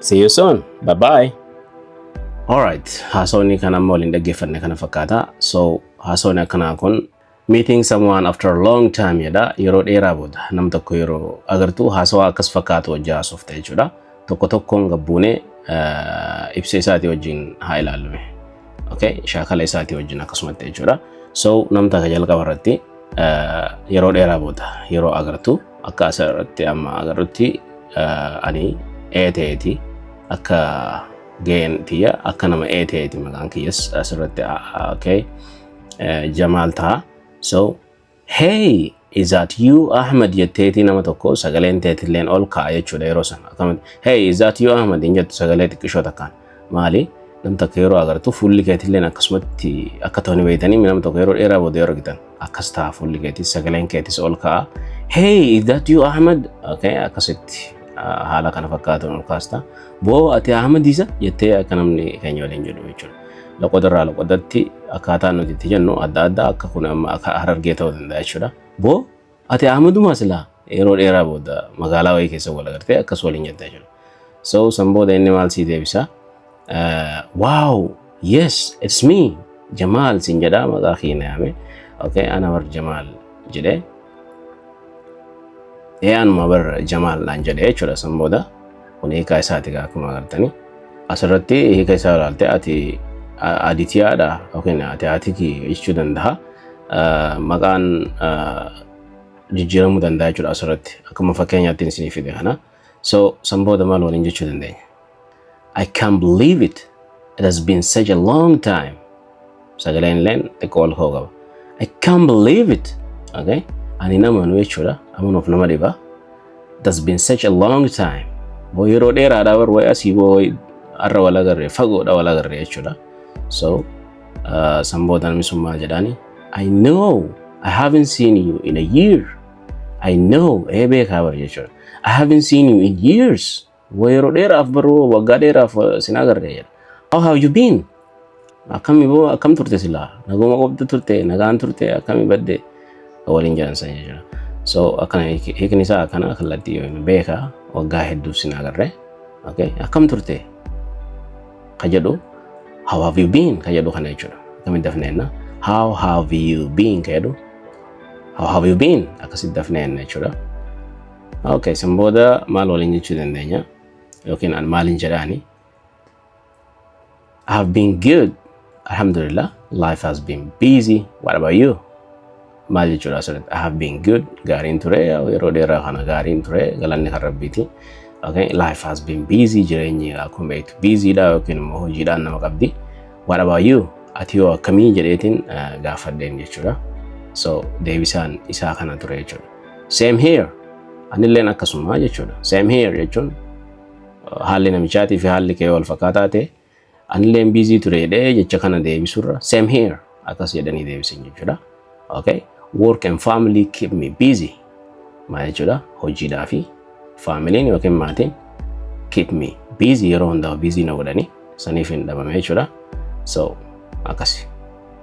See you soon. Bye bye. Alright, haasawni kan amma waliin dhaggeeffanne kana fakkaata. So, haasawni akkanaa kun meeting someone after a long time jedha. Yeroo dheeraa booda nam tokko yeroo agartu haasawaa akkas fakkaatu wajji haasofta jechuudha. Tokko tokkoon gabbuune eh, ibsa isaatii wajjin haa ilaallume. Okay, shaakala isaatii wajjin akkasumatti jechuudha. So, nam takka jalqaba irratti yeroo dheeraa booda yeroo agartu akka as irratti amma agarrutti ani ee ta'eeti akka ga'een tiyya akka nama ee ta'eeti maqaan kiyyas as irratti okay jamaal ta'a so hey is that you ahmed jetteetii nama tokko sagaleen teetilleen ol ka'a jechuudha yeroo sana akkamitti hey is that you ahmed hin jettu sagalee xiqqishoo takkaan Maali? Nam takka yeroo agartu fuulli keetilleen akkasumatti akka ta'u ni beektanii nama tokko yeroo dheeraa booda yeroo argitan akkas ta'a fuulli keetis sagaleen keetis ol ka'a. Hey, is that you Ahmed? Okay, akkasitti ah, haala kana fakkaatuun ol kaasta. Boo ati Ahmed isa jettee akka namni keenya waliin jedhu jechuudha. Loqoda irraa loqodatti akkaataa nuti itti jennu adda adda akka kun amma akka harargee ta'uu danda'a jechuudha. Boo Ati Ahmadumaa silaa yeroo dheeraa booda magaalaa wayii keessa wal agartee akkas waliin jettan jiru. So san booda inni maal sii deebisa? Wow, yes, it's me, Jamaal siin jedhaa maqaa kiyya na yaame. Okay, ana bar Jamaal jedhee. Ee anuma bar Jamaal naan jedhee jechuudha san booda. Kun hiikaa isaati egaa akkuma agartanii. Asirratti hiika isaa ilaalte ati aditiyaadha yookiin ati atiki jechuu danda'a. Maqaan jijjiiramuu danda'a jechuudha asirratti akkuma fakkeenyaatti isin fide kana. So san booda maal waliin jechuu dandeenya? I can't believe it. It has been such a long time. sagaleen illeen xiqqoo ol ka'u qaba. I can't believe it. Okay? Ani nama nu jechuudha. Amanuuf nama dhiba. That's been such a long time. Boo yeroo dheeraadhaa bar wayii asii boo wayii har'a wal agarre fagoodha wal agarre jechuudha. So uh, san booda namni sun maal jedhaani? I know I haven't seen you in a year. I know ee beekaa bar jechuudha. I haven't seen you in years. Wa yeroo dheeraaf baruu waggaa dheeraaf sin agarre jedha. How have you been? Akkami boo akkam turte silaa? Naguma qobdu turte nagaan turte akkami badde? Ka waliin jedhan san jechuudha. So akkana hiik- hiikni isaa akkana kallattii yoo hin beeka waggaa hedduuf sin agarre. Okay. Akkam turte? Ka jedhu how have you been? Ka jedhu kana jechuudha. Akkamitti dafneenna? How have you been? Ka jedhu how have you been? Akkasitti dafneenna jechuudha. Okay, san booda maal waliin jechuu dandeenya? Yookiin an maaliin jedhaani? I have been good. Alhamdulillah, life has been busy. What about you? Maal jechuudha asirratti? I have been good. Gaariin ture. Yeroo dheeraa kana gaariin ture. Galanni kan rabbiiti. Okay, life has been busy. Jireenyi akkuma beektu busy dha yookiin immoo hojiidhaan nama qabdi. What about you? Ati yoo akkamii jedheetiin gaafadheen jechuudha. So deebisaan isaa kana ture jechuudha. Same here. Anilleen akkasuma jechuudha. Same here jechuun haalli namichaatii fi haalli kee wal fakkaataa ta'e anilleen biizii ture jedhee jecha kana deebisurra same here akkas jedhanii deebisan jechuudha. Okay. Work and family keep me busy. Maal jechuudha? Hojiidhaa fi faamiliin yookiin maatiin keep me busy yeroo hundaa busy na godhanii saniif hin dhabame jechuudha. So akkasi.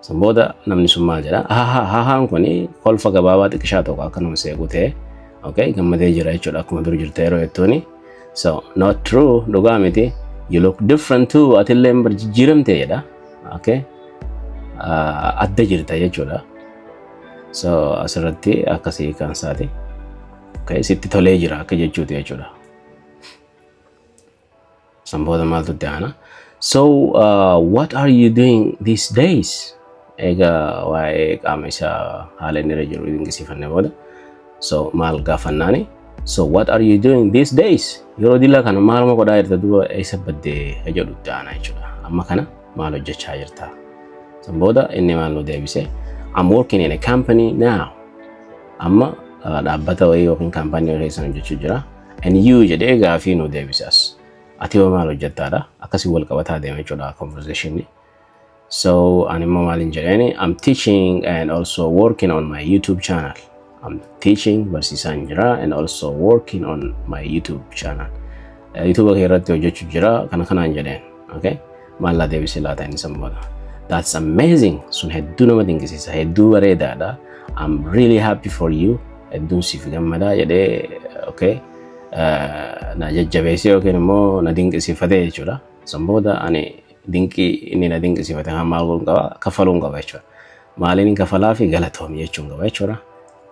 San booda namni sun maal jedha? Haha hahaan kun kolfa gabaabaa xiqqishaa tokko akka nama seequu ta'e okay gammadee jira jechuudha akkuma dur jirte yeroo jettuuni. So not true dhugaa miti you look different too atillee hin jijjiiramte jedha okay Ah, adda jirta jechuudha. So asirratti akkasii kan isaati. Okay sitti tolee jira akka jechuuti jechuudha. San booda maaltu itti aana? So uh, what are you doing these days? Egaa waa'ee qaama isaa haala inni irra jiru dinqisiifanne booda. So maal gaafannaani? So what are you doing these days? Yeroo dilaa kana maaluma godhaa jirta duuba eessa baddee jedhu itti aana jechuudha. Amma kana maal hojjechaa jirta? San booda inni maal nu deebise? I'm working in a company now. Amma uh, dhaabbata wayii yookiin kaampaanii wayii keessan hojjechuu jira. NU jedhee gaafii nu deebise as. Ati hoo maal hojjettaadha? Akkasii wal qabataa deema jechuudha conversation. So ani immoo maaliin jedheeni I'm teaching and also working on my YouTube channel. I'm teaching barsiisaan jira and also working on my YouTube channel. YouTube kee irratti hojjechuu jira kana kanaan jedheen. Okay? Maallaa deebisee laata inni san booda. That's amazing. Sun hedduu nama dinqisiisa. Hedduu bareedaadha. I'm really happy for you. Hedduun siif gammadaa jedhee okay? eh, na jajjabeessee yookiin immoo na dinqisiifatee jechuudha. San booda ani dinqii inni na dinqisiifate kan maal godhuun qaba? Kaffaluun qaba jechuudha. Maaliin kafalaa fi galatoomi jechuun qaba jechuudha.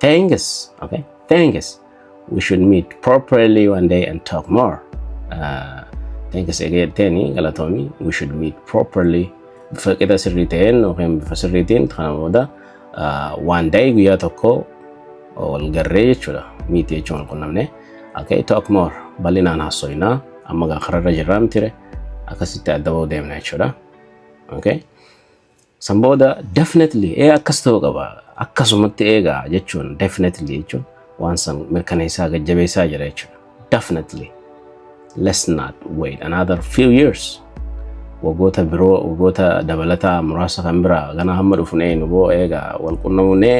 Thanks. Okay. Thanks. We should meet properly one day and talk more. Uh, thanks again, Tenny, Galatomi. We should meet properly. Bifa qixa sirrii ta'een yookiin bifa sirriitiin kana booda uh, one day guyyaa tokko wal garree jechuudha. Miiti jechuun wal qunnamne. Okay, talk more. Bal'inaan haasofnaa. Amma gaa kararra jirraa miti ree. Akkasitti adda bahuu deemna jechuudha. Okay. San booda definitely ee akkas ta'uu qaba akkasumatti eegaa jechuun definitely jechuun waan san mirkaneessaa gajjabeessaa jira jechuudha. Definitely let's not wait another few years wagoota biroo wagoota dabalataa muraasa kan biraa ganaa hamma dhufun eenu boo eegaa wal qunnamuunee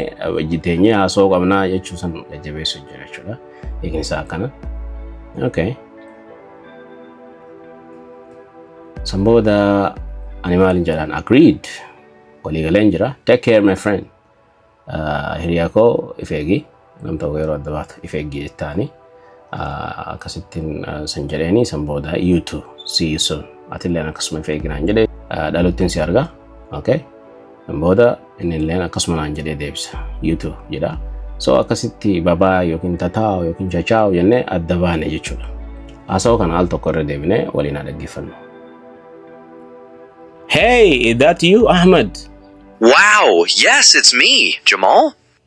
jiteenyee haasoo qabnaa jechuu san jajjabeessu jira jechuudha. Eeginsa akkana. Okay. San booda ani maalin jedhaan agreed walii galeen jira take care my friend Ah, hiriyaa koo if eegi nam tokko yeroo adda baatu if eegi jettaani Ah, akkasittiin ah, san jedheeni san booda you too see you soon atilleen akkasuma if eeginaan jedhe Ah, dhaluttiin si arga okay Booda inni illeen akkasuma naan jedhee deebisa. YouTube jedha. So akkasitti babaa yookiin tataa'u yookiin chachaa'u jennee adda baane jechuudha. Haasawaa kana al tokko irra deebinee waliin haa dhaggeeffannu. Hey, is that you, Ahmed? Wow, yes, it's me, Jamal.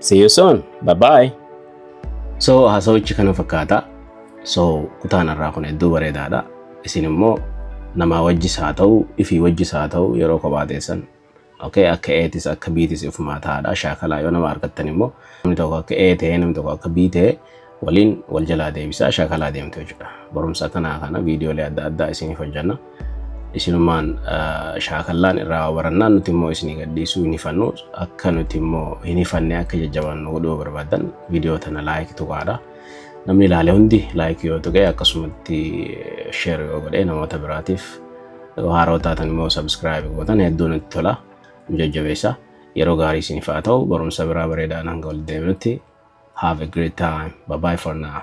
See you soon. Bye bye. So haasawichi kana fakkaata. So kutaan irraa kun hedduu bareedaadha. Isin immoo namaa wajjis haa ta'u, ifii wajjis haa ta'u yeroo kophaa teessan okay, akka eetis akka biitis ifumaa taa'aadha. Shaakalaa yoo nama argattan immoo namni tokko akka ee ta'ee namni tokko akka bii ta'ee waliin wal jalaa deebisaa shaakalaa deemtu jechuudha. Barumsa kanaa kana viidiyoolee adda addaa isiniif hojjanna. Isinumaan shaakallaan irraa barannaan nuti immoo isinii gadhiisuu hin hifannu. Akka nuti immoo hin hifanne akka jajjabaannu godhuu barbaadan viidiyoo tana laayik tuqaadha. Namni ilaale hundi laayik yoo tuqe akkasumatti sheer yoo godhe namoota biraatiif haaroo taatan immoo sabskiraayib gootan hedduu nutti tola. Nu jajjabeessaa. Yeroo gaarii isiniif haa ta'u barumsa biraa bareedaan hanga walitti deebinutti have a great time. Bye bye for now.